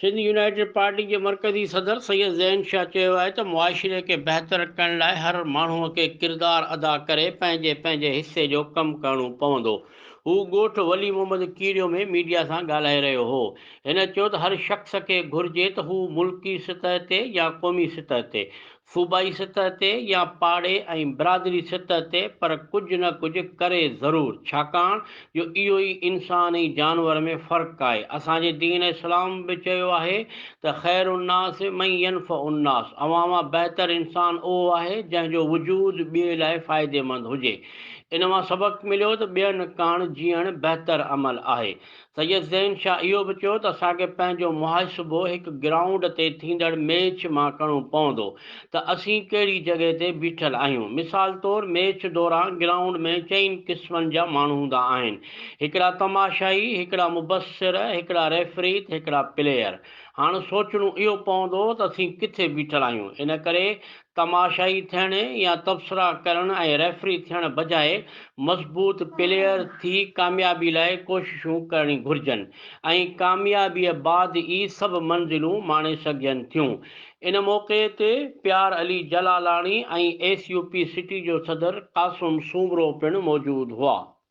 Sindh united party جي مرڪزي صدر سيد زين شاهه چيو آهي ته معاشري کي بهتر ڪرڻ لاء هر ماڻهو کي ڪردار ادا ڪري پنهنجي پنهنجي حصي جو ڪم ڪرڻو پوندو هو ڳوٺ ولي محمد ڪيريو ۾ ميڊيا سان ڳالهائي رهيو هو. هن چيو ته هر شخص کي گهرجي ته هو ملڪي سطح تي يا قومي سطح تي، صوبائي سطح تي يا پاڙي ۽ برادري سطح تي پر ڪجهه نه ڪجهه ڪري ضرور ڇاڪاڻ جو اهو ئي انسان ۽ جانور ۾ فرق آهي اسان جي دين اسلام به چيو آهي ته خير الناس من ينفع الناس اوهان مان بهتر انسان اهو آهي جنهن جو وجود ٻئي لاء فائديمند هجي. ان مان سبق مليو ته ٻين ڪاڻ جيئڻ بهتر عمل آهي. سيد زين شاهه اهو به چيو ته اسان کي پنهنجو محاسبو هڪ گرائونڊ تي ٿيندڙ ميچ مان ڪرڻو پوندو ته اسين ڪهڙي جڳهه تي بيٺل آهيون. مثال طور ميچ دوران گرائونڊ ۾ چئن قسمن جا ماڻهو هوندا آهن، هڪڙا تماشائي، هڪڙا مبصر، هڪڙا ريفري ته هڪڙا پليئر. هاڻ سوچڻو اهو پوندو ته اسين ڪٿي بيٺل آهيون. ان ڪري تماشائي ٿيڻ يا تبصرا ڪرڻ ۽ ريفري ٿيڻ بجاء مضبوط پليئر ٿي ڪاميابي لاء ڪوششون ڪرڻي گهرجن ۽ ڪاميابيء بعد ئي سڀ منزلون ماڻي سگهجن ٿيون. ان موقعي تي پيار Ali Jalalani ۽ S U P city جو صدر قاسم سومرو پڻ موجود هئا.